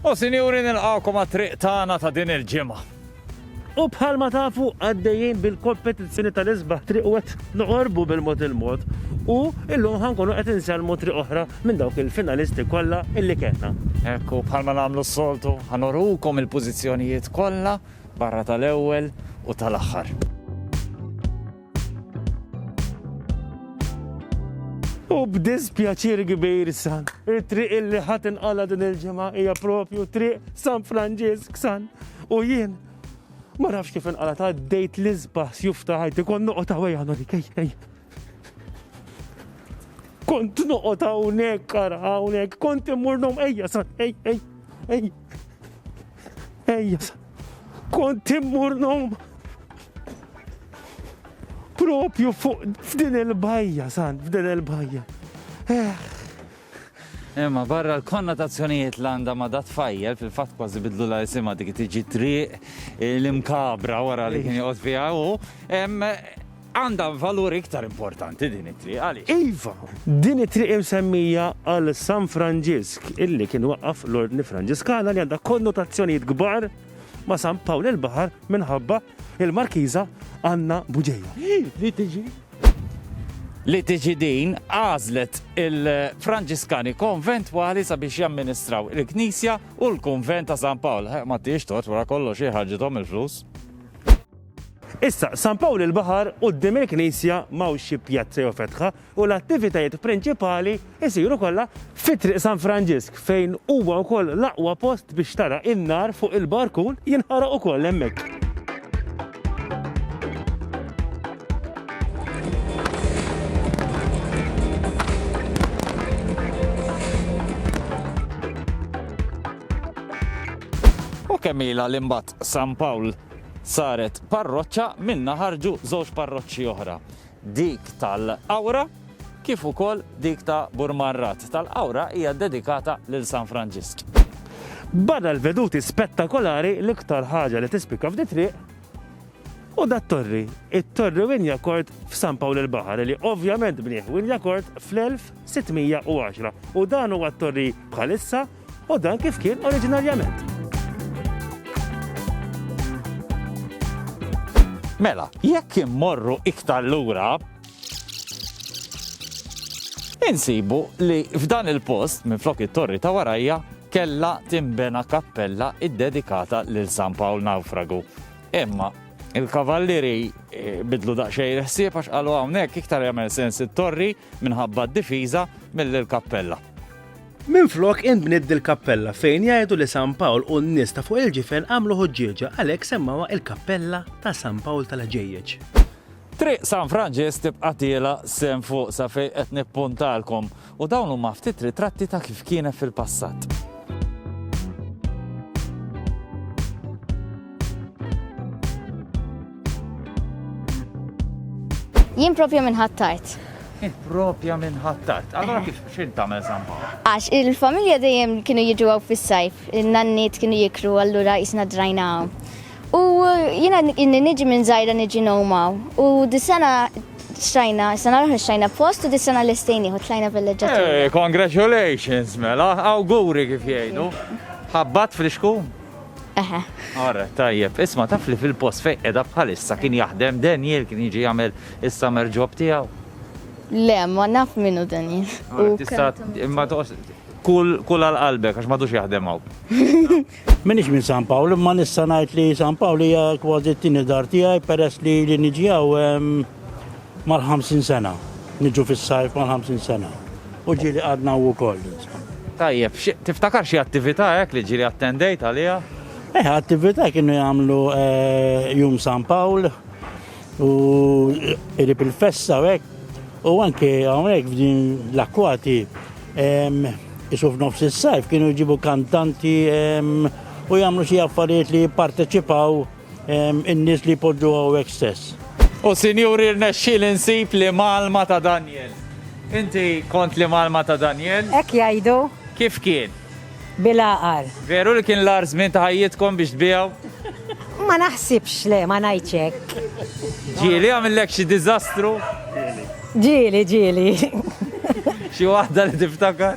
O Sinjuri nilqgħukom għat-triq tagħna ta' din il-ġimgħa. U bħalma tafu għaddejjin bil-kompetizzjoni tal-isbaħ triq u qed noqorbu bil-mod il-mod u llum ħa nkunu qed insellmu triq oħra minn dawk il-finalisti kollha illi kellna. Hekk hu bħalma nagħmlu s-soltu ħa nurukom il-pożizzjonijiet kollha barra tal-ewwel u tal-aħħar. U b'dispjaċir kbir san, it-triq illi ħat inqala din il-ġimgħa hija propju triq San Franġisk san. U jien ma nafx kif inqala ta' dejt l isbaħ sjuf ta' ħajti kon noqgħod hawnhekk għandu dik ej. Kont noqgħod hawnhekk ara hawnhekk, kont immur nom ejja san, ej ej ej. Ejja, kont immur nom propju fuq f'din il-bajja, sant, f'din il-bajja. Eh. Imma barra l-konnotazzjonijiet l għanda ma dat fajjel fil-fat kważi bidlu la jisima dik tiġi triq eh, l-imkabra wara li kien joqgħod fiha u Għandha valur iktar importanti din it-triq, għaliex? Iva, din it-triq imsemmija għal San Franġisk, illi kien waqqaf l-Ordni Franġiskana li għandha konnotazzjonijiet kbar ma' San Pawl il-Baħar minħabba il-Markiża Anna Buġeja. Li tiġi? Li tiġi din għażlet il-Franġiskani konventwali sabiex jamministraw il-Knisja u l-Kunvent ta' San Pawl. Ma tiex tot wara kollox ħarġithom il-flus. Issa, San Pawl il-Baħar, quddiem il-knisja m'hawnx xi pjazza jew fetħa u l-attivitajiet prinċipali jsiru kollha fi Triq San Franġisk fejn huwa wkoll l-aqwa post biex tara n-nar fuq il-barkun jinħaraq ukoll hemmhekk. U kemm ilha li mbagħad San Pawl Saret parroċċa, minnha ħarġu żewġ parroċċi oħra, dik tal-Qawra kif ukoll dik ta' Burmarrat. Tal-Qawra hija ddedikata lil San Franġisk. Bada l-veduti spettakolari l-iktar ħaġa li tispikka f'di triq u dat-torri, it-Torri Wynyacourt f'San Pawl il-Baħar li ovvjament bnieh Wynyacourt fl-1610 u dan huwa t-torri bħalissa U dan kif kien oriġinarjament. Mela, jekk immorru iktar lura, insibu li f'dan il-post minn flok it-torri ta' warajja kella timbena kappella iddedikata lil San Pawl Nawfragu. Imma il-kavallieri eh, bidlu daqsxejn ħsieb għax qalu hawnhekk iktar jagħmel sens it-torri minħabba d-difiża mill-kappella. Minflok inbniet dil-kappella fejn jgħidu li San Pawl u n-nies ta' fuq il-ġifen għamlu ħuġġieġa għalhekk semmawha il-Kappella ta' San Pawl tal-Ħġejjeġ. Triq San Franġisk tibqa' tiela' sehem fuq sa fejn qed nippuntalkom u dawn huma ftit ritratti ta' kif kienet fil-passat. Jien propja minn ħattart. Jien propja minn ħattart. Allora kif xint tagħmel zampa? Għax il-familja dejjem kienu jiġu għaw fis-sajf, il-nanniet kienu jikru allura jisna drajna għaw. U jiena inni niġi minn zajra niġi nomaw. U dis-sena xajna, sena l xajna post u dis-sena l-istejni u tlajna bil-leġġa. Eh, congratulations, mela, awguri kif jgħidu. Ħabbat friskun. Eħe. Ara, tajjeb, isma taf li fil-post fej edha bħalissa kien jaħdem Daniel kien jiġi jagħmel is-summer job tiegħu. Le, ma naf minnu Daniel. Tista' imma toqos kull kull għal qalbek għax madux jaħdem hawn. Minix minn San Pawl, imma nista' ngħid li San Pawl hija kważi t-tieni dar tiegħi peress li li niġi hawn Mal-ħamsin sena. Niġu fis-sajf mal-ħamsin sena. U ġieli qagħadna hawn ukoll, insomma. Tajjeb, xi, tiftakar xi attività hekk li ġieli attendejt għaliha? Eh, attività kienu jagħmlu eh, jum San Pawl u qrib il-festa u hekk. U anke hawnhekk f'din l-akkwati em, isu f'nofs is-sajf kienu jġibu kantanti em, u jagħmlu xi affarijiet li jipparteċipaw in-nies li jpoġġu hawnhekk stess. U sinjuri rnexxiel insib li malma ta' Daniel. Inti kont li malma ta' Daniel? Hekk jgħidu. Kif kien? Bil-għaqal. Veru li kien l-ar żmien ta' ħajjitkom biex tbiegħu? Ma naħsibx le, ma ngħidx hekk. Ġieli għamillek xi diżastru? Ġieli, ġieli. Xi waħda li tiftakar?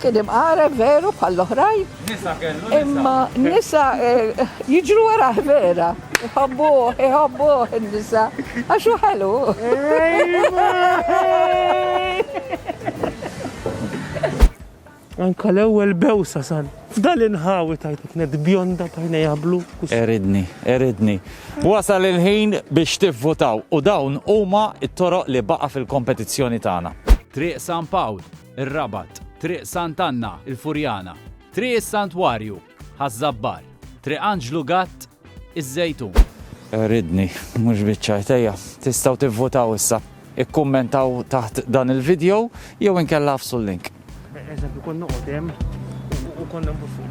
Kien imqareb veru bħall-oħrajn. Nisa kellu. Imma nisa eh, jiġru wara vera. Iħobbu, iħobbu n-nisa. Għax hu ħelu. Anka l-ewwel bewsa sal. F'dan inħawi tajtu kienet bjonda tajna jablu. Eridni, eridni. Wasal il-ħin biex tivvutaw u dawn huma it-toroq li baqa' fil-kompetizzjoni tagħna. Triq San Pawl, ir-Rabat, Triq Sant' Anna, il-Furjana, Triq is-Santwarju, Ħaż-Żabbar, Triq Anġlu Gatt, iż-Żejtun. Ridni, mhux biċċa jdejja. Tistgħu tivvutaw issa. Ikkummentaw taħt dan il-video jew inkella għafsu l-link. Eżempju, kont noqgħod hemm u kont nagħmlu fuq